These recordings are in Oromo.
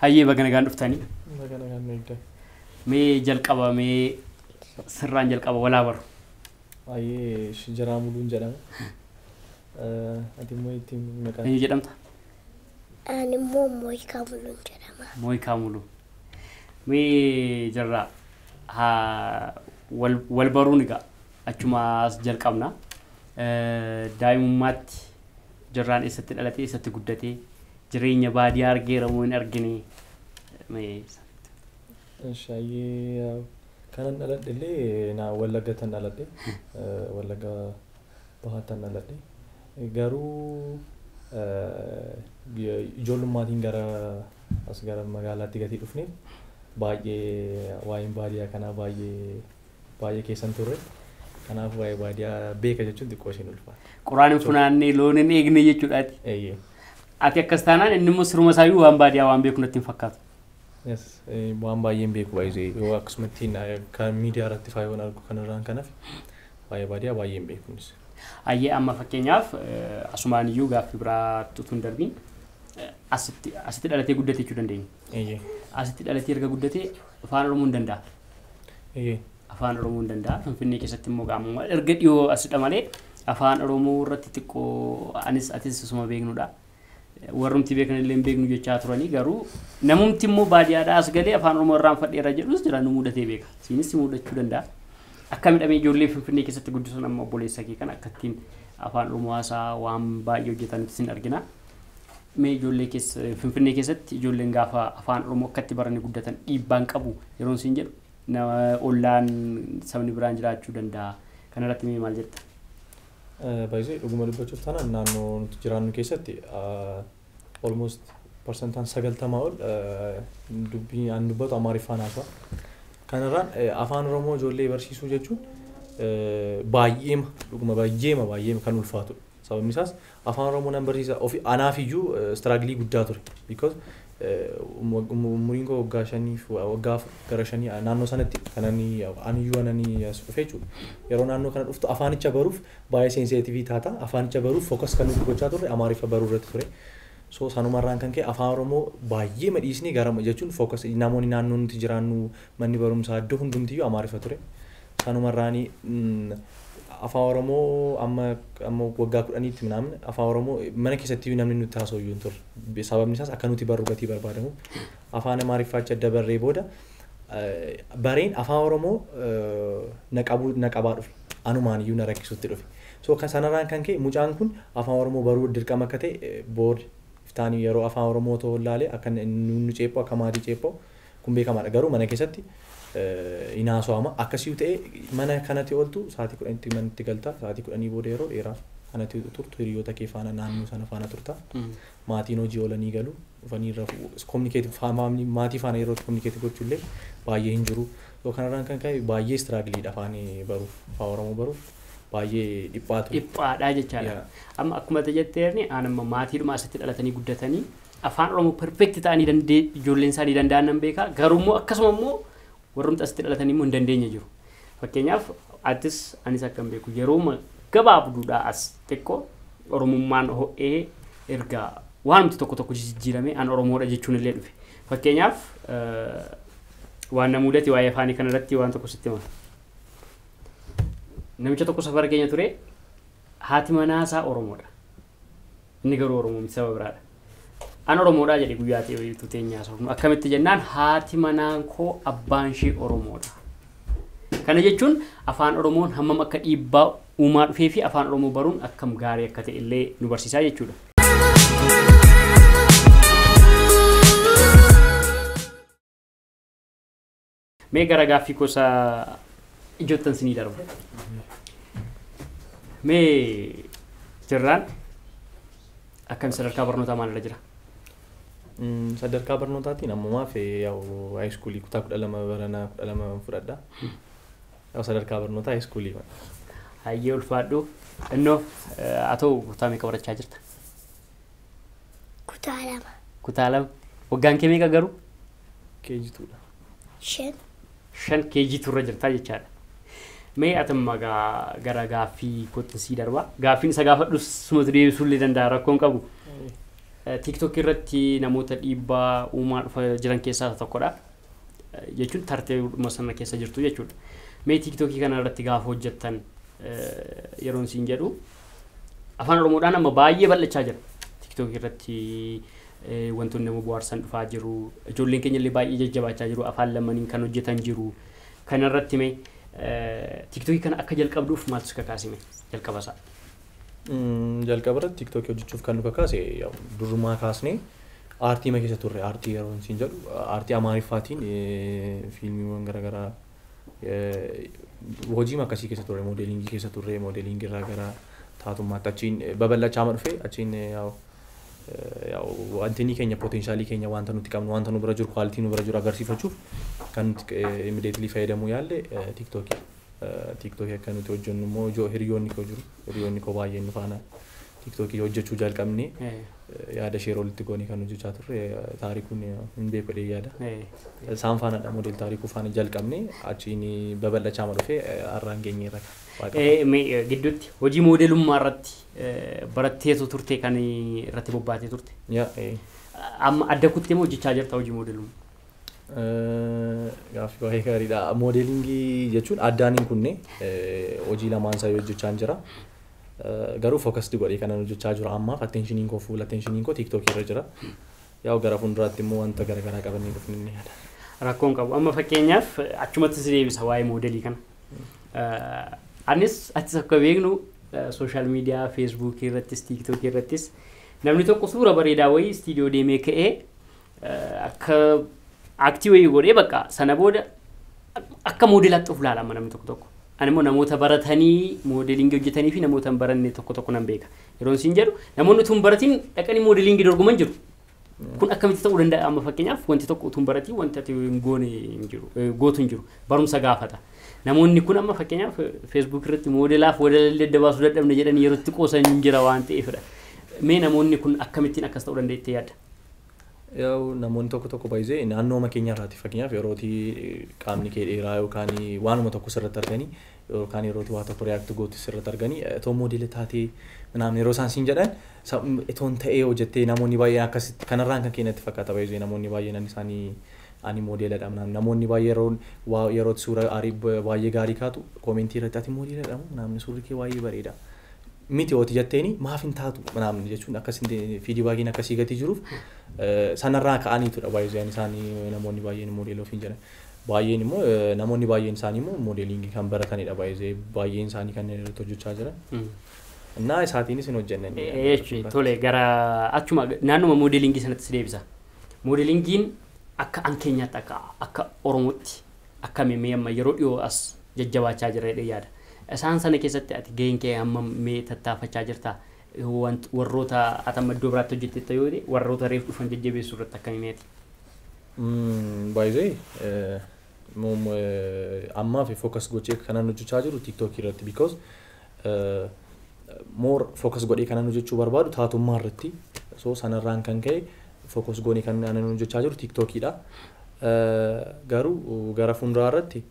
Hayyee baga nagaan dhuftanii. Baga nagaan nu eegdan. Mee jalqaba mee sirraan jalqaba walaa baru. Baay'ee Shinjaraa Muluun jedhama. Ati immoo ittiin maqaan. Eenyu jedhamta? Ani immoo Mooyikaa Muluun jedhama. Mooyikaa Muluu. Mee jarraa haa wal wal baruun egaa Achumaa as jalqabna. Daa'imummaatti Jirraan eessatti dhalatee, eessatti guddatee, jireenya baadiyaa argeera moo hin argine? Mee sana. Shaayee kanan dhaladhe illee naa wallagga tan dhaladhe wallagga bahaa tan dhaladhe garuu ijoollummaatiin gara as gara magaalaatti gatii dhufne baay'ee waa'een baadiyaa kanaa baay'ee Baay'ee keessan turre. Kanaaf waa'ee baadiyaa beeka jechuun xiqqoo ishiin ulfaata. Quraan hin funaanne, loon hin eegne jechuudhaati. Eeyyee. Ati akkas taanaan inni immoo siruma isaayyuu waan baadiyaa waan beeku natti hin fakkaatu. Yes, eh, waan baay'een beeku baay'ee yoo akkasumatti na- kan miidiyaa irratti faa yoon argu kanarraan kanaaf waa'ee baadiyaa baay'een beeku innis. Ayyee amma fakkeenyaaf eh, asumaan iyyuu gaaffii biraatti utuu hin darbiin eh, asitti asitti dhalatee guddate jechuu dandeenya. Eeyyee. Asitti dhalatee erga guddatee afaan Oromoo hin danda'a. Afaan Oromoo hin danda'a. Finfinnee keessatti immoo qaamuma erga dhiyoo asidha malee afaan Oromoo irratti xiqqoo anis atis osuma beeknudha. Warrumti beekan illee hin beeknu jechaa turanii garuu namumti immoo baadiyyaadhaa as galee afaan Oromoo irraan fadheera jedhus jira nu mudatee beeka. Siinis mudachuu danda'a. Akka midhamee ijoollee Finfinnee keessatti guddisuun amma obboleessa kee kana akkattiin afaan Oromoo haasaa waan baay'ee hojjetan sin argina. Mee ijoollee keessa Finfinnee keessatti ijoolleen gaafa afaan Oromoo akkatti baranii guddatan dhiibbaan qabu yeroon siin jedhu na ollaan sabni biraan jiraachuu danda'a. Kanarratti mee maal jetta? Baay'ee dhuguma dubbachuuf taanaan naannoo nuti jiraannu keessatti almost parsantaan sagaltamaa ol dubbii an dubbatu Amaariffaan haasa'a. Kanarraan afaan Oromoo ijoollee barsiisuu jechuun baay'eema dhuguma baay'eema baay'eema kan ulfaatudha. Sababni isaas Afaan Oromoo nan barsiisa ofi anaaf iyyuu struggle guddaa ture because umuriin koo waggaa shanii waggaa afur gara shanii naannoo sanatti kanan ani iyyuu anani as dhufe jechuudha. Yeroo naannoo kana dhuftu afaanicha baruuf baay'ee sensitivii taata. Afaanicha baruuf focus kan nuti gochaa turre Amaariffa baruu irratti ture. So sanumarraan kan ka'e afaan Oromoo baay'ee madhiisni gara jechuun focus namoonni naannoo nuti jiraannu manni barumsaa iddoo hundumtiyyuu Amaariffa ture. Sanumarraani Afaan Oromoo amma amma waggaa kudhaniitti minaamin Afaan Oromoo mana keessattiyyuu namni nutti haasa'u iyyuu hin turre. Sababni isaas akka nuti barru gatii barbaadamuuf. Afaan Amaariffaa achi adda barree booda bareen Afaan Oromoo na qabuu na qabaa dhufe. Anumaan iyyuu na rakkisutti dhufe. So kan sanarraan kan ka'e mucaan kun Afaan Oromoo baruu dirqama akka ta'e board iftaanii yeroo Afaan Oromoo otoo laale akka nu ceephu akka maatii ceepha'u Kun beekamaadha garuu mana keessatti hin haasawama akkasiyu ta'e mana kanati oltu sa'atii kudhanitti manatti galta sa'atii kudhanii booda yeroo dheeraa kanati turtu hiriyoota kee faana naannoo sana faana turta maatiin hojii oolanii galu dhufanii irra kominikeetii faamilii maatii faana yeroo kominikeetii gochuu illee baay'ee hin jiru yoo kanarraan kan ka'e baay'ee istiraagiliidha afaan baruuf afaan oromoo baruuf baay'ee dhiphaatu. dhiphaadhaa jechaadha. Yaa. Amma akkuma ati jetteerni aan amma maatiidhuma asitti dhalatanii guddatanii Afaan Oromoo perfect ta'anii dandee ijoolleen isaanii danda'an nan beeka. Garuu immoo akkasuma immoo warrumti asitti dhalatanii immoo hin dandeenye jiru. Fakkeenyaaf atis anis akka hin beeku yeroo gabaabduudhaa as xiqqoo Oromummaan ho'ee erga waanumti tokko tokko jijjiiramee an Oromoodha jechuun illee dhufe. Fakkeenyaaf waan na mudate waa'ee afaanii kanarratti waan tokko sitti hima. Namicha tokko safara keenya ture haati manaa isaa Oromoodha. Inni garuu Oromoo miti saba biraadha. An Oromoodhaa jedhe guyyaa ta'etu teenya haasofnu. Akkamitti jennaan haati manaan koo abbaan ishee Oromoodha. Kana jechuun afaan Oromoon hammam akka dhiibbaa uumaa dhufee fi afaan Oromoo baruun akkam gaarii akka ta'e illee nu barsiisaa jechuudha. Mee gara gaaffii gosa ijoottan sinii darba. Mee jirraan akkam sadarkaa barnootaa maalirra jira? Mm, sadarkaa barnootaatiin ammumaaf eh, yaa'u haayiskuulii kutaa kudha lama baranaa kudha lama fudhadha. Yaa'u sadarkaa barnootaa haayiskuulii kana. Hayyee ulfaadhu. Innoo eh, haa ta'u kutaa meeqa barachaa jirta? Kutaa lama. Kutaa lama. Waggaan kee meeqa garuu? Keejituudha. Shan. Shan keejiitu irra jirtaa jechaadha. Mee atamma gaa gara gaaffii kootti sii darbaa. Gaaffiin isa gaafadhus sumatu deebisuu illee danda'a rakkoon qabu. TikTok irratti namoota dhiibbaa uumaa dhufa jiran keessaa isa tokkodha. Jechuun tarteedhuma sana keessa jirtu jechuudha. Mee TikTokii kana irratti gaafa hojjettan yeroon siin jedhu Afaan Oromoodhaan amma baay'ee bal'achaa jira. Tiktookii irratti wantoonni nama bohaarsan dhufaa jiru. Ijoolleen keenya illee baay'ee jajjabaachaa jiru. Afaan lamaniin kan hojjetan jiru. Kana irratti mee tiktookii kana akka jalqabduuf maaltu si kakaase mee jalqaba isaa? Jalqaba irratti tiktookii hojjechuuf kan nu kakaase durrumaa kaasnee aartii ma keessa turre aartii yeroo siin jedhu aartii amaariffaatiin fiilmiiwwan garaagaraa Hojiima akkasii keessa turre, moodeliingii keessa turre, moodeliingii irraa gara taatummaatti achiin babal'achaama dhufe, achiin wantinii keenya poteenshaalii keenya wanta nuti qabnu, wanta nu bira jiru, kwaalitii nu bira jiru agarsiifachuuf kan nuti immediately fayyadamuu yaalle tiiktookii. Tiiktookii akka nuti hojjennu immoo ijoo hiriyoonni koo jiru, hiriyoonni koo baay'een nu faana Tiktoki hojjachuu jaalqabnee Ee. yaada share walitti goone kan hojjachaa turre taarikuun hin beeku jedhee yaada. Ee. Isaan faanadha model taarikuu faana jalqabne achiin babal'achaama dhufe har'aan geenyeerra waaqa. Ee, mee, eh, gidduutti hojii moodelummaa irratti eh, baratteetu turte kan irratti bobbaatee turte. Yaa, ee. Amma adda kuttee moo hojjechaa jirta hojii moodelummaa? Eh, Gaaffii baay'ee gaariidha. Moodeelingii jechuun addaan hin kunne eh, hojii lamaan isaa hojjechaan jira. Garuu focused godhee kanan hojjechaa jiru ammaaf attentionin koo full attentionin koo TikTok irra jira. Yaa'u gara fuulduraatti immoo wanta garaagaraa qabannee dhufne ni yaada. Rakkoon qabu. Amma fakkeenyaaf achumatti si deebisa waa'ee moodelii kana. Anis atis akka beeknu sooshaal miidiyaa feesbuukii irrattis tiiktookii irrattis namni tokko suura bareedaa wayii istiidiyoo deemee ka'ee akka aktii wayii godhee bakka sana booda akka moodelaatti of ilaalama namni tokko tokko. Ani immoo namoota baratanii moodelingi hojjetanii fi namoota hin baranne tokko tokko nan beeka. Yeroon siin jedhu namoonni utuu hin baratiin dhaqanii moodelingi dorgoman jiru. Kun akkamitti ta'uu danda'a amma fakkeenyaaf wanti tokko utuu hin baratiin wanti ati hin goone hin jiru eh, gootu hin jiru barumsa gaafata. Namoonni kun amma fakkeenyaaf feesbuuk irratti moodelaaf walallee adda baasuu dadhabne jedhanii yeroo itti qoosan hin jira waan ta'eefidha. Mee namoonni kun akkamittiin akkas ta'uu danda'a jettee yaadda? Yaa'u namoonni tokko tokko baay'isee naannooma keenya irraati fakkeenyaaf yerooti qaamni kee dheeraa yookaan waanuma tokko sirratti arganii yookaan yerooti waa tokko react gootu sirratti arganii itoo moodela taatee naam yeroo isaan siin jedhan itoon ta'ee hojjettee namoonni baay'een akkasitti kanarraan kan keenyatti fakkaata baay'isee namoonni baay'een ani isaanii ani moodeeladha naam namoonni baay'ee yeroon waa yerooti suura aarii baay'ee gaarii kaatu koomentii irratti ati moodeeladha naamni suurri kee baay'ee bareeda miti hooti jatteeni maaf hin taatu manaamni jechuun akkas fiidii baay'een akkasii gatii jiruuf sanarraa ka'aniitudha baay'een isaanii namoonni baay'een moodeelii ofiin jedhan. Baay'een immoo namoonni baay'een isaanii immoo moodeeliingii kan baratanidha baay'ee baay'een isaanii kanneen irratti hojjechaa jiran. Naa isaatiinis hin hojjenne. Tole gara achuma naannuma moodeeliingii sanatti si deebisa. Moodeeliingiin akka an keenyaatti akka akka Oromootti Akkami mee amma yeroo dhiyoo as jajjabaachaa jirra jedhee yaada. Isaan sana keessatti ati gaheen kee hammam mee tattaafachaa jirta? Want warroota ati amma iddoo biraatti hojjettetta yoo ta'e warroota reef dhufan jajjabeessuu irratti akkami mee ati? By the way ammaaf focus gochee kanan hojjechaa jiru tiktok irratti because more focus godhee kanan hojjechuu barbaadu taatummaa irratti. So sanarraan kan ka'e focus goonee kan anan hojjechaa jiru tiiktokiidha. Garuu gara fuulduraa irratti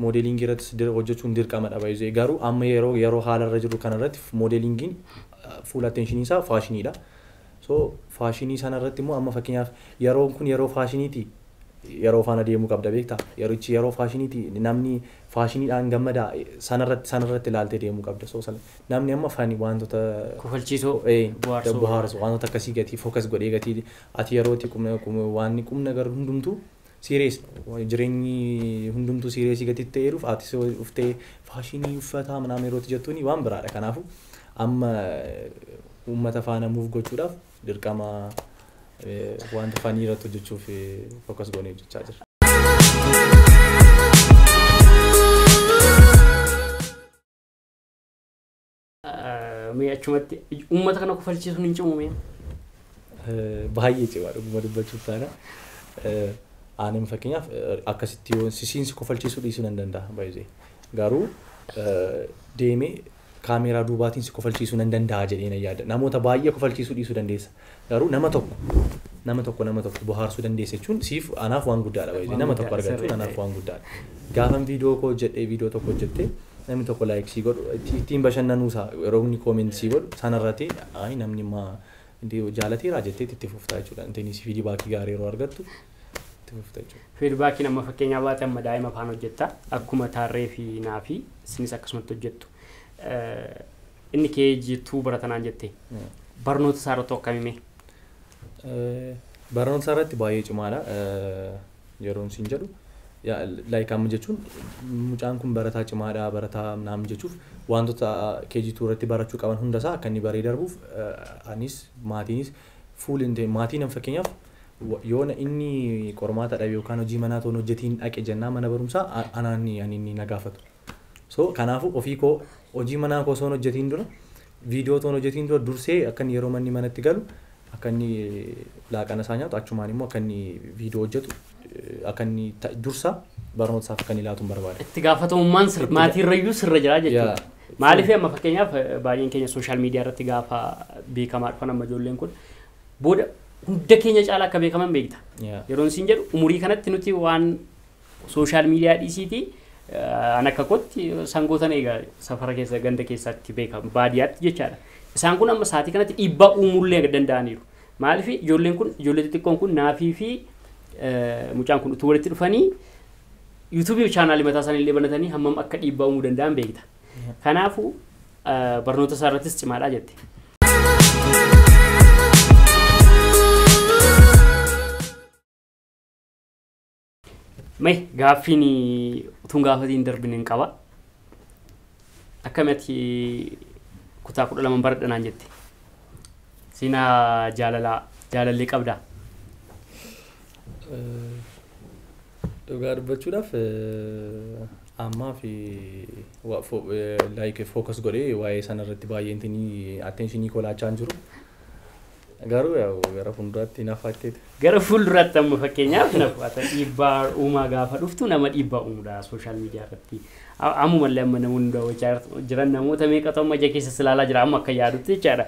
moodeeliingii irrattis dir- hojjechuun dirqamadha baay'ee. Garuu amma yeroo yeroo haala irra jirru kana irratti moodeeliingiin fuula attention isaa faashiniidha. So faashinii sana irratti immoo amma fakkeenyaaf yeroon kun yeroo faashiniiti yeroo faana deemuu qabda beektaa yerichi yeroo faashiniiti namni faashiniidhaan gammada sana irratti sana irratti ilaaltee deemuu qabda so sana namni amma fani wantoota Kofalchiisoo, ee, bohaarsoo. bohaarsu wantoota akkasii gatii focus godhee gatii ati yerooti qubna qum- waan qubna garuu hundumtuu Serious jirenyi hundumtuu serious gati itti eeruuf atis dhuftee faashinii uffataa minaamin yeroo itti jettuuni waan biraadha kanaafu amma ummata faana move gochuudhaaf dirqama wanta funny irratti hojjechuuf focus goonee hojjechaa jirra. Mee achumatti uummata kana kufalchiisuun hin cimu mee? Baay'ee cimaa dhuguma dubbachuuf taana. Aanin fakkeenyaaf akkasitti yoo sisiin si kofalchiisuu dhiisuu nan danda'a baay'ee. Garuu deemee kaameeraa duubaatiin si kofalchiisuu nan danda'a jedhee nan yaada. Namoota baay'ee kofalchiisuu dhiisuu dandeessa. Garuu nama tokko nama tokko nama tokko bohaarsuu dandeessa jechuun siif anaaf waan guddaadha baay'ee Waan nama tokko guddaadha, argachuun sirrii. anaaf waan guddaadha. Gaafan viidiyoo koo hojjedhee viidiyoo tokko hojjettee namni tokko laayik sii godhu itti- ittiin bashannanuu isaa yeroo inni koomeenti sii godhu sanarratti ayi namni maa inti jaalateeraa jettee itti fuftaa jechuudha. Intiin si fiidii baakii gaarii yeroo argattu itti fufta jechuudha. Fiidbaakiin amma fakkeenyaa baate amma daa'ima afaan hojjetta akkuma taarree fi naa fi isinis akkasumatti hojjettu. Eh, Inni KG two barata naan jette. Barnoota isaa irratti akkami mee? Barnoota isaa irratti baay'ee cimaadha. Yeroon siin jedhu like amma jechuun mucaan kun barataa cimaadha barataa naam jechuuf wantoota KG two irratti barachuu qaban hunda isaa akka inni baree darbuuf anis maatiinis fuul hin ta'e maatiin an fakkeenyaaf yoona inni qormaata dhabe yookaan hojii manaa toon hojjetiin dhaqe jennaa mana barumsaa anaan ani inni na gaafatu. So kanaafuu ofii koo hojii manaa koo osoon hojjetiin dura viidiyoo otoon hojjetiin dura dursee akka inni yeroo manni manatti galu akka inni laaqana isaa nyaatu achumaan immoo akka inni viidiyoo hojjetu eh, akka inni ta- dursa barnoota isaaf akka inni laatu hin barbaada. Itti gaafatamummaan sir- Itti ga- maatii irrayyuu sirra jira jechuudha. Yaa. Maaliif amma fakkeenyaaf eh, baay'een keenya sooshaal miidiyaa irratti gaafa beekamaa dhufan amma ijoolleen kun booda hunda keenya caalaa akka beekaman beekta. Yaa. Yeroon siin jedhu umurii kanatti nuti waan Social media dhiisiiti an akka kootti sangootan eega safara keessa ganda keessaatti beeka baadiyaatti jechaadha. Isaan kun amma saatii kanatti dhiibbaa uumuullee danda'aniiru. Maaliif ijoolleen kun ijoollee xixiqqoon kun naafii fi mucaan kun utuu walitti dhufanii yuutuubii chaanaalii mataa isaanii illee banatanii hammam akka dhiibbaa uumuu danda'an beekta. Kanaafuu barnoota isaa irrattis cimaadhaa jette. Mee gaaffiin utuun gaafatiin darbin hin qaba. Akkamiti kutaa kudha lama baradha naan jette. Seenaa jaalalaa jaalallee qabdaa? Dhugaa dubbachuudhaaf ammaa fi like focus godhee waa'ee sana irratti baay'ee attention koo laachaa hin jiru. Garuu yaa'u gara fuulduraatti hin hafaakkeetu. Gara fuulduraatti amma fakkeenyaaf hin hafu. Ata dhiibbaa uumaa gaafa dhuftu nama dhiibbaa uumudha sooshaal miidiyaa irratti. Ammumallee amma namoonni daawwachaa jiran namoota meeqatu amma ija keessas ilaalaa jira amma akka yaadutti jechaadha.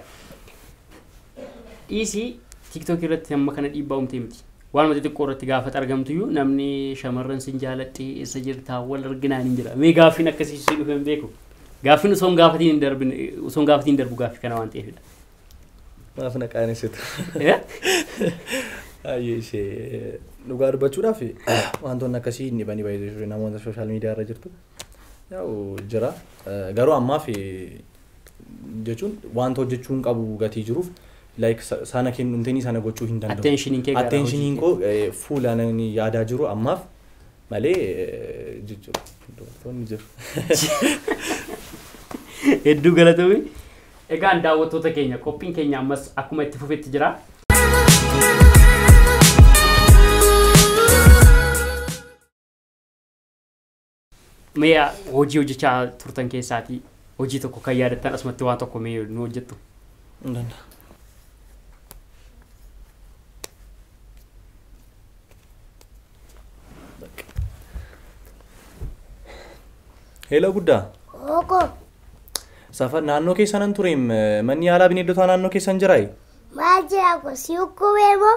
Dhiisii tiiktookii irratti amma kana dhiibbaa uumtee miti. Waanuma xixiqqoo irratti gaafa argamtuyyuu namni shamarran sin jaaladhe eessa jirtaa wal arginaan hin jira. Mee gaaffiin akkasii si dhufe hin beeku. Gaaffiin osoo hin gaafatiin hin darbine osoo hin gaafatiin darbu gaaffii kana waan ta'eefidha. Maaf na qaanessitu. Ayyee ishee dhugaa dubbachuudhaaf wantoonni akkasii hin dhibanii baay'ee jiru namoota sooshaal miidiyaa irra jirtu. Yaa'u jira garuu ammaaf jechuun wanta hojjechuu hin qabu gatii jiruuf like sana kennuun sana gochuu hin danda'u. Attention kee gara Attention hojii koo fuula ani yaadaa jiru ammaaf malee jijjiru dubartoonni jiru. Hedduu galatoomi. Egaan daawwattoota keenya qophiin keenya ammas akkuma itti fufetti jira. Mee hojii hojjechaa turtan keessaatii hojii tokko kan yaadattan asumatti waan tokko mee nu hojjettu. Hin danda'a. Heeloo guddaa. Ooko. Safa naannoo keessanan ture manni yaalaa bineeldotaa naannoo keessan jiraayi. Maal jira kun si hukkubee moo?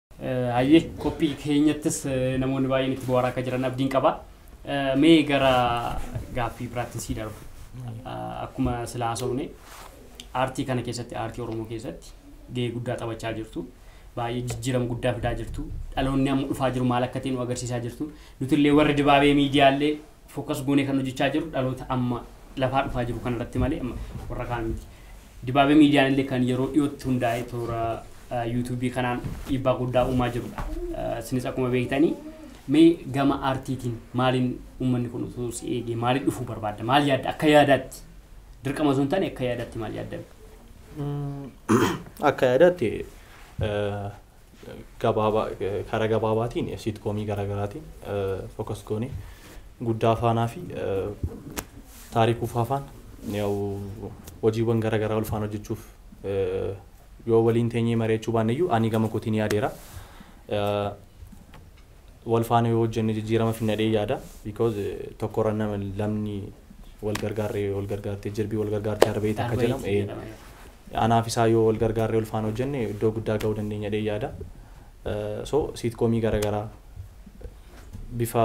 Hayyee qophii keenyattis namoonni baay'een itti bu'aaraa akka jiran abdiin qaba. Mee gara gaaffii biraattiin sii darba. Akkuma sila haasofne aartii kana keessatti aartii Oromoo keessatti gahee guddaa taphachaa jirtu. Baay'ee jijjiirama guddaa fidaa jirtu. Dhaloonni amma dhufaa jiru maal akka ta'e nu agarsiisaa jirtu. Nutillee warri dibaabee miidiyaallee Focus goonee kan hojjechaa jirru dhaloota amma lafaa dhufaa jiru kana irratti malee amma warra kaan miti. Dibaabee miidiyaan illee kan yeroo dhiyootti hundaa'e toora yuutuubii kanaan dhiibbaa guddaa uumaa jirudha. Isinis akkuma beektanii mee gama aartiitiin maaliin uummanni kun utuu si eegee maaliin dhufuu barbaadda? Maal yaadda? Akka yaadaatti dirqama osoo hin taane akka yaadaatti maal yaadda? Akka yaadaatti Karaa gabaabaatiin siitkoomii garaagaraatiin focus goonee guddaa faanaa fi taarikuu faafaan hojiiwwan garaagaraa ulfaan hojjechuuf yoo waliin teenyee mari'achuu baanneyyuu ani gama kootiin yaadeera. wal faana yoo hojjenne jijjiirama finna jedhee yaada because tokkorra nama lamni wal gargaarre wal gargaartee jirbii wal gargaartee harba'iiti akka jedhamu ee anaaf isaa yoo wal gargaarre wal faana hojjenne iddoo guddaa ga'uu dandeenya jedhee yaada so siitkoomii garaagaraa bifa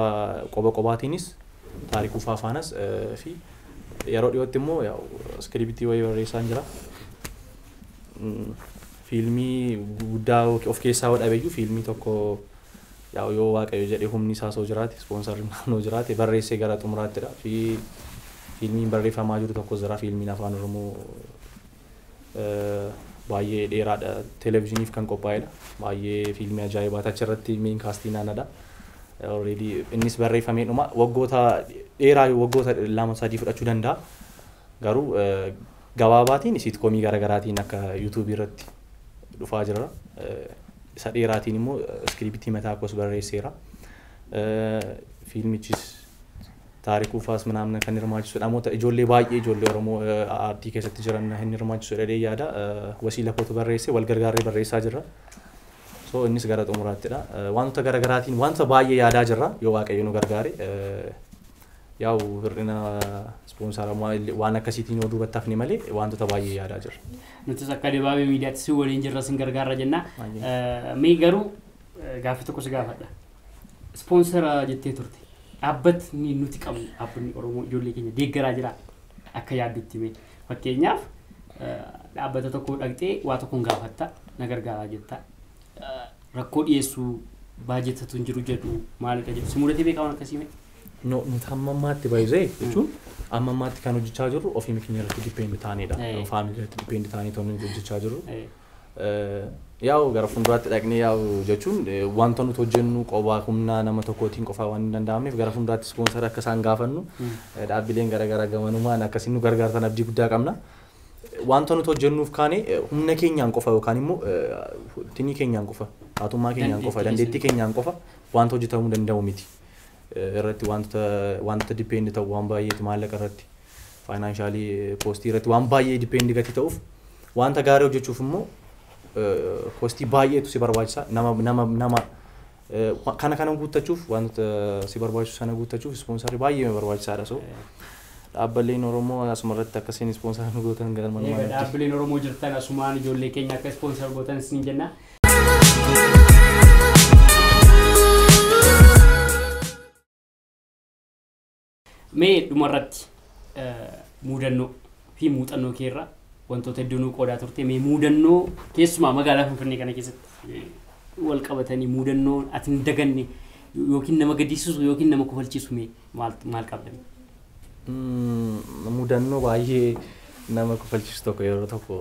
qoba qobaatiinis taarikuu faafaanas fi yeroo dhiyootti immoo iskiribitii wayii barreessaan jira fiilmii guddaa of keessaa dhabeyyuu fiilmii tokko Yaa'u yoo waaqayyo jedhe humni isaa soo jiraate sponsor naannoo jiraate barreessee gara xumuraatti dha fi fiilmiin barreeffamaa jiru tokkos jira fiilmiin afaan oromoo baay'ee dheeraa dha televizyiniif kan qophaa'ee dha baay'ee fiilmii ajaa'ibaa tachi irratti meen kaastii naana dha already innis barreeffamee dhuma waggoota dheeraa waggoota lama sadii fudhachuu danda'a garuu Gabaabaatiin siitkoomii gara garaatiin akka YouTube irratti dhufaa jira. Isa dheeraatiin immoo iskiriiptii mataa koos barreesseera. Fiilmichis taarikuu faas minaamna kan hirmaachisu dhamoota ijoollee baay'ee ijoollee Oromoo aartii keessatti jiran hin hirmaachisu dhadhee yaada. Wasiila kootu barreesse wal gargaarree barreessaa jirra. So innis gara xumuraattidha. Wantoota gara garaatiin wanta baay'ee yaadaa jirra yoo waaqayyo nu gargaare. Yaa'u hir'ina ispoonsaraa waan akkasiitiin yoo duubatti hafne malee waantota baay'ee yaadaa jirra. Nutis akka Dibaabee Miidiyaatti si waliin jirra sin gargaarra jenna. Mee garuu gaaffii tokko si gaafadha. Ispoonsara jettee turte. Dhaabbatni nuti qabnu dhaabbanni Oromoo ijoollee keenya deeggaraa jira akka yaaddutti mee. Fakkeenyaaf dhaabbata tokko dhaqxee waa tokkoon gaafatta na gargaaraa jetta. Rakkoo dhiyeessuu baajatatu hin jiru jedhu maalidha jedhu. Si mudatee beekaman akkasii mee? No, nuti hamma ammaatti baay'isee jechuun amma ammaatti kan hojjechaa jirru ofii keenya irratti dippeend taanedha. Eh. Faamilii irratti dippeend taanee ta'uu nuti hojjechaa jirru. Eh, Eh, Yaa'u gara fuulduraatti dhaqnee yaa'u jechuun eh, wanta nuti hojjennu qobaa humna nama tokkootiin qofaa waan hin danda'amneef gara fuulduraatti ispoonsara akka isaan gaafannu eh, dhaabbileen garaagaraa gamanumaan akkasiin nu gargaartan abdii guddaa qabna. Eh, Wanta nuti hojjennuuf kaane eh, humna keenyaan qofa yookaan immoo eh, tinii keenyaan qofa, haatummaa keenyaan qofa, Dandeettii dandeettii keenyaan qofa wanta hojjetamuu danda'u miti. irratti waantota waantota depend ta'u waan baay'eeti maallaqa irratti faayinaanshaali koostii irratti waan baay'ee depend gati ta'uuf waanta gaarii hojjechuuf immoo koostii baay'eetu si barbaachisa nama nama nama kana kana guuttachuuf waantota si barbaachisu sana guuttachuuf ispoonsarri baay'ee barbaachisaadha so dhaabbileen Oromoo asuma irratti akkasiin ispoonsara nu gootan galma Dhaabbileen Oromoo jirtan asumaan ijoollee keenya akka ispoonsar gootan isin jenna. Mee dhumarratti eh, muudannoo fi muuxannoo kee irraa wantoota hedduu nuu qoodaa turte mee muudannoo keessumaa magaalaa Finfinnee kana keessatti eh, wal qabatanii muudannoo ati hin daganne yookiin nama gaddisiisu yookiin nama kofalchiisu mee maal maal qabdan? Mm, mudannoo baay'ee nama kofalchiisu tokko yeroo tokko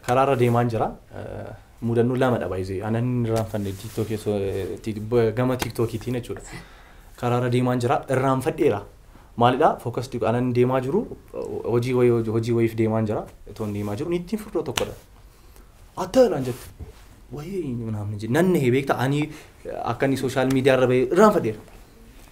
Karaarra deemaan jira. Mudannoo lama dha baay'ee. Ana inni irraanfanne tiiktookii osoo ti- b- gama tiiktookiitiin jechuudha. Karaarra deemaan jira. Irraanfadheera. Maalidha? Fookas diqo ana inni deemaa jiru hojii wayii hojii- hojii wayiif deemaan jira. Otoo inni deemaa jiru niittiin furdoo tokkodha. Atta naan jette. Wayii naamni jedhe. Nan nahe beekta ani akka inni sooshaal miidiyaa irra bahee irraanfadheera.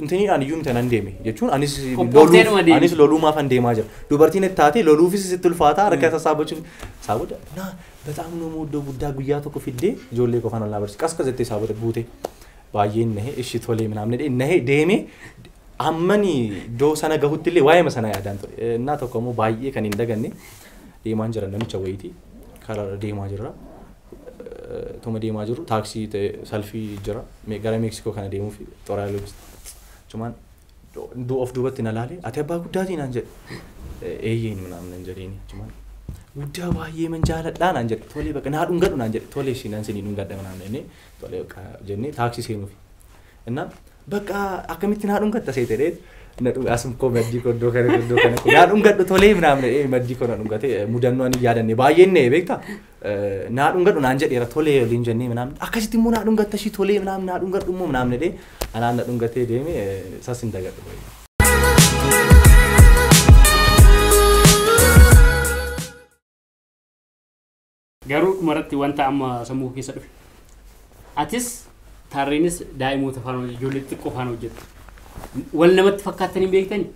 Intiniidhaan iyyuu miti anan deeme jechuun anis Qophoofteedhuma loluuf deemte. anis loluumaaf an deemaa jira. Dubartiin itti taatee loluufis sitti ulfaataa harka isaa saabbachuuf isaa booda naa bataam nama iddoo guddaa guyyaa tokko fiddee ijoollee koo kan ol naa barsiis qasqas jettee isaa booda buutee baay'een nahee ishii tolee minaamne dhee nahee deemee ammani iddoo sana gahutti illee waa'eema sana yaadaan ture. Eh, Innaa tokko immoo baay'ee kan hin daganne deemaan jira namicha wayiitii karaa deemaa jirra. tuma deemaa jirru taaksii ta'e salfii jira gara meeksikoo kana deemuufi xorayaa loojisti cumaan of duubatti na laalee ati abbaa guddaatii naan jedhe eeyyeen minaan nan jedheeni cumaan guddaa baay'ee man jaaladhaa naan jedhe tolee bakka naa dhungadhu naan jedhe tolee ishii nan sinii dhungadha minaan jennee tolee bakka jennee taaksii seenuufi innaan bakka akkamitti naa dhungatta seete dheet asum koo maddii koo iddoo kana iddoo kana naa dhungadhu tolee minaan jedhee maddii koo na dhungatee mudannoo ani yaadanne baay'een na'e beektaa naa dhungadhu naan jedheera tolee waliin jennee minaamin akkasitti immoo naa dhungatta ishii tolee minaamin naa dhungadhu immoo minaamin jedhee anaan na dhungatee deeme sas hin dagadhu baay'ee. Garuu dhumarratti wanta amma sammuu koo keessa dhufe. Atis taarreenis daa'imoota faana hojjetu, ijoollee xixiqqoo faana hojjetu. Wal namatti fakkaatanii beektanii?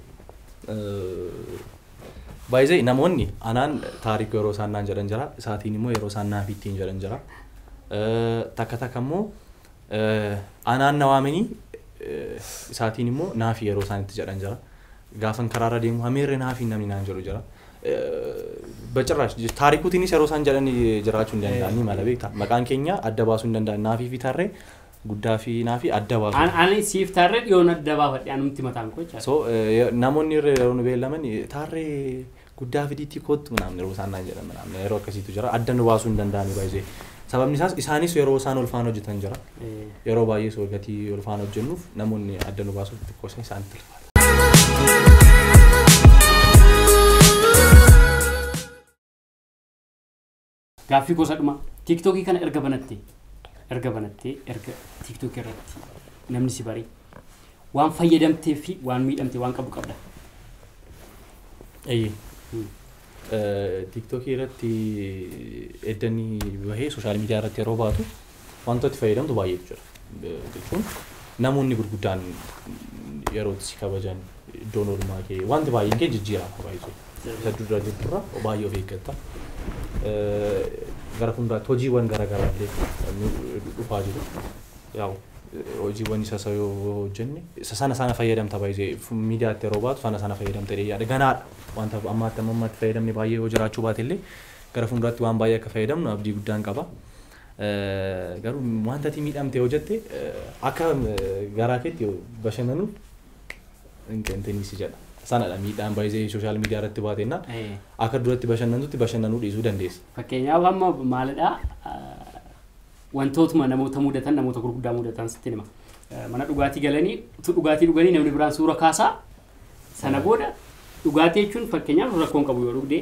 By the way namoonni anaan taariku yeroo isaan naan jedhan jira isaatiin immoo yeroo isaan naaf ittiin jedhan jira takka takka immoo anaan na waamanii isaatiin immoo naaf yeroo isaan itti jedhan jira gaafan karaarra deemu hameerre naaf namni naan jedhu jira bacirraash taarikuutiinis yeroo isaan jedhan jiraachuu hin danda'anii mala beektaa maqaan keenya adda baasuu hin danda'an naaf fi tarree Guddaa fi hinaa fi adda baasuu. An ani siif taarree dhiyoon adda baafadhe anumti mataan koo jechaadha. So namoonni irra yeroo nu beellaman taarree guddaa fidiitii koottu manaamne yeroo isaan naan jedhan manaamne yeroo akkasiitu jira adda nu baasuu hin danda'anii baay'ee sababni isaas isaanis yeroo isaan ulfaan hojjetan jira yeroo baay'ee soo gatii ulfaan hojjennuuf namoonni adda nu baasuuf xiqqoosan isaanitti ulfaata. Gaaffii koo isa dhumaa. Tiiktookii kana erga banattee erga banattee erga tiiktookii irratti namni si baree waan fayyadamtee fi waan miidhamte waan qabu qabda. Eeyyee. Hmm. Eh, Tiiktookii irratti eddanii bahee sooshaal miidiyaa irratti yeroo baatu Wantoota itti fayyadamtu baay'eetu jira. Jechuun namoonni gurguddaan yeroo itti si kabajan iddoon oolmaa kee wanti baay'een kee jijjiirama baay'ee. Isa dura jirturra baay'ee of eeggatta. Gara fuulduraatti hojiiwwan garaagaraa illee dhufaa jiru. Yaa'u hojiiwwan isa isa yoo hojjenne isa sana sana fayyadamta baay'ee miidiyaatti yeroo baatu sana sana fayyadamta jedhee yaada. Ganaadha. Wanta ammaatti amma ammaatti fayyadamne baay'ee yoo jiraachuu baate illee gara fuulduraatti waan baay'ee akka fayyadamnu abdii guddaan qaba. Garuu wanta ati miidhamte yoo jette akka garaa keetti bashannanu hin qeentinii si jedha. Sanadha miidhaan baay'ee sooshaal miidiyaa irratti baate jennaan Eh. akka duratti bashannantutti bashannanuu dhiisuu dandeessa. Fakkeenyaaf amma maalidhaa wantootuma namoota mudatan namoota gurguddaa mudatan sitti hima. Eh, Mana dhugaatii galanii utuu dhugaatii dhuganii namni biraan suura kaasaa Sana booda dhugaatii jechuun fakkeenyaaf rakkoon qabu yoo dhugde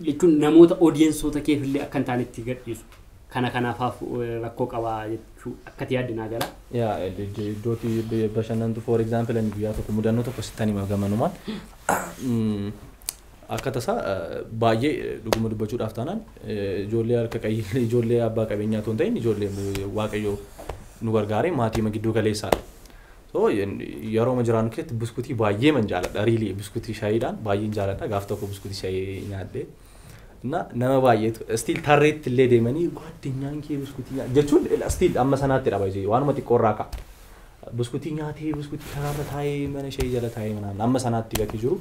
jechuun namoota odiyensoota keef illee akka hin taane itti gadhiisu. Kana kanaafaaf eh, rakkoo qaba jechuu akkati yaadde naa gala. yaa iddootti bashannantu for example ani guyyaa tokko mudannoo tokko sittan hima gamanumaan Mm, akka tasaa eh, baay'ee eh, dhuguma dubbachuudhaaf taanaan eh, ijoollee harka qayyillee ijoollee abbaa qabeenyaa otoo hin ta'in ijoollee eh, waaqayyoo nu gargaaree maatii gidduu galeessaadha So yerooma jiraannu keessatti buskutii baay'eeman jaaladha really buskutii shayiidhaan baay'een jaaladha gaaf tokko buskutii shayii nyaadhe እና nama baay'eetu still tarreetti illee deemanii ጓደኛን kee buskutii nyaa-" jechuun still amma sanaatti dha baay'ee waanuma xiqqoo irraa ka'a buskutii nyaatee buskutii karaarra taa'ee mana shayii jala taa'ee manaan amma sanaatti gatii jiru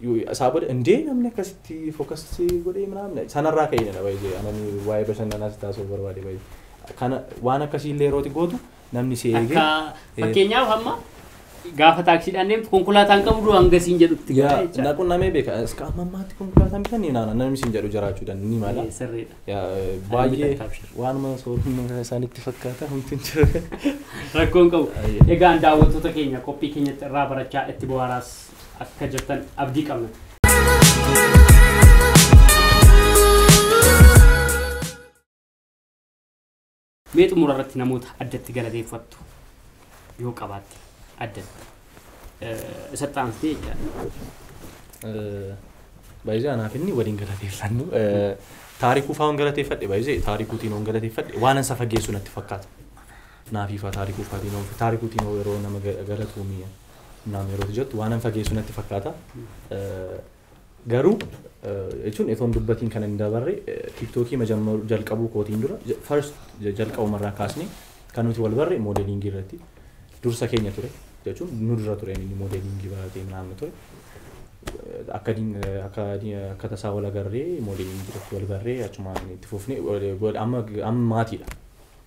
Yoo- isaa booda indee namni akkasitti focus godhee manaan sanarraa ka'ee dha baay'ee anani waa'ee bashannanaa si taasisuu barbaade baay'ee kana waan akkasii illee yeroo ati gootu namni si eege. Akka eh, fakkeenyaaf amma gaafa taaksiidhaan deemtu konkolaataan qabdu hanga siin jedhutti yaa, gahaa jechaadha. naqu namee beeka iska amma ammaatti konkolaataan bitanii naana namni siin jedhu jiraachuu danda'a ni mala. Eh, Sirriidha. Yaa, eh, baay'ee takka abshir. waanuma soorummaa isaanitti fakkaata humti hin jiru. Rakkoon qabu. Ayya. Egaan daawwattoota keenya qophii keenyatti irraa barachaa itti bohaaraas akka jirtan abdii qabna. Mee xumura irratti namoota addatti galateeffattu yoo qabaatte addatti isatti aansitee jechaadha. Baay'ee anaaf inni waliin galateeffannu. Taarikuu fa'aan galateeffadhe baay'ee taarikuutiin waan galateeffadhe waan ansa fageessu natti fakkaata. Naafiifaa taarikuu fa'aatiin waan taarikuutiin yeroo nama galatuumi naam yeroo jettu waan an fageessu natti fakkaata. Garuu jechuun etoon dubbatiin kan hin dabarre tiiktookii majammaru jalqabuu kootiin dura first jalqabuma irraa kaasnee kan nuti wal barre moodeliingii irratti dursa keenya ture jechuun nu dura ture inni moodeliingii baratee naannoo ture. Akka diin- akka diin- akka tasaa wal agarree moodeliingii irratti wal barree achumaan itti fufnee wal- wal- amma amma maatiidha.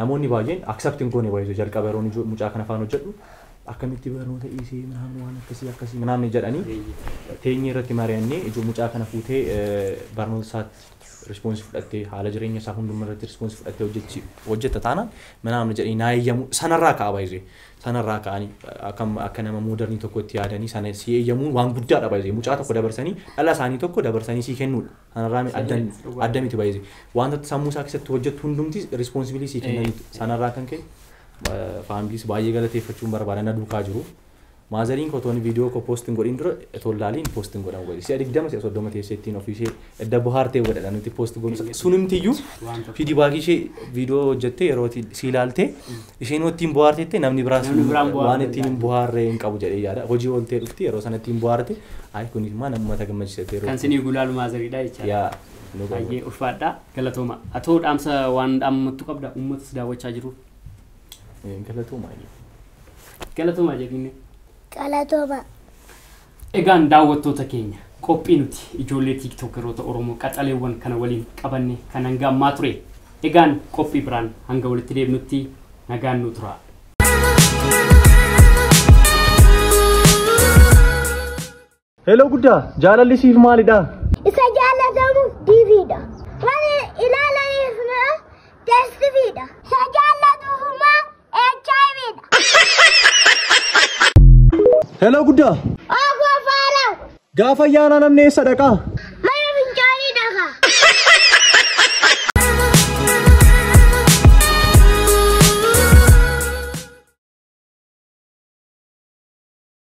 Namoonni baay'een accept hin goone by the way jalqaba yeroon ijo- mucaa kana faan hojjedhu akkamitti barnoota dhiisee minaamin waan akkasii akkasii minaamin jedhanii Eeyyee. teenyee irratti mari'annee ijo mucaa kana fuutee eh, barnoota isaatti rispoonsi fudhattee haala jireenya isaa hunduma irratti rispoonsi fudhattee hojjechi hojjetta taanaan minaamin jedhanii naa eeyyamu sanarraa ka'a by the way sanarraa ka'anii akka akka nama moodernii tokkotti yaadanii sana si eeyyamuun waan guddaadha by the way mucaa tokko dabarsanii dhala isaanii tokko dabarsanii sii kennuudha. Sanarraami Sirrii addan miti, dhugaa. adda miti baay'ee. Wanta sammuu isaa keessatti hojjettu hundumti responsibilii sii kennan Eh, eh. sanarraa kan ka'e eh, faamiliis baay'ee galateeffachuun barbaada na duukaa jiru. Maazariin koo tooni viidiyoo koo poostiin godhin dura toon laaliin poostiin godhan godhi. Si'a digdama si'a soddoma teessee ittiin ofii ishee edda bohaartee godhadha nuti poostii goonu. Sunimtiyyuu Wanta- fiidibaakii ishee viidiyoo hojjettee yeroo ati sii ilaaltee Isheen ittiin bohaartetti namni biraas Namni biraan bohaaruu waan ittiin hin danda'a. bohaarre hin qabu jedhee yaada. Hojii ooltee dhufti yeroo sana ittiin bohaarte ayi kun immoo nama mata gammachiisatee Kan sinii gulaalu maazariidha jechaadha. yaa nu qabu. Baay'ee ulfaadha. Galatooma. Atoo dhaamsa waan dhaammattu qabda uummatas daawwachaa jiru. Galatooma. Galatooma jedhinne. Galatooma. Egaan daawwattoota keenya qophii nuti ijoollee tiiktokeroota Oromoo qaxaleewwan kana waliin qabanne kan hanga ammaa ture. Egaan qophii biraan hanga walitti deebinutti nagaan nuu turaa. Hello guddaa jaalalli siif maalidha? Isa jaallatamu diiviidha. Warri ilaalaniif immoo teessifiidha. Isa jaallatu Hello guddaa. Ogoo faaraw. Gaafa ayyaanaa namni eessa dhaqaa? Mana fincaanii dhaqa.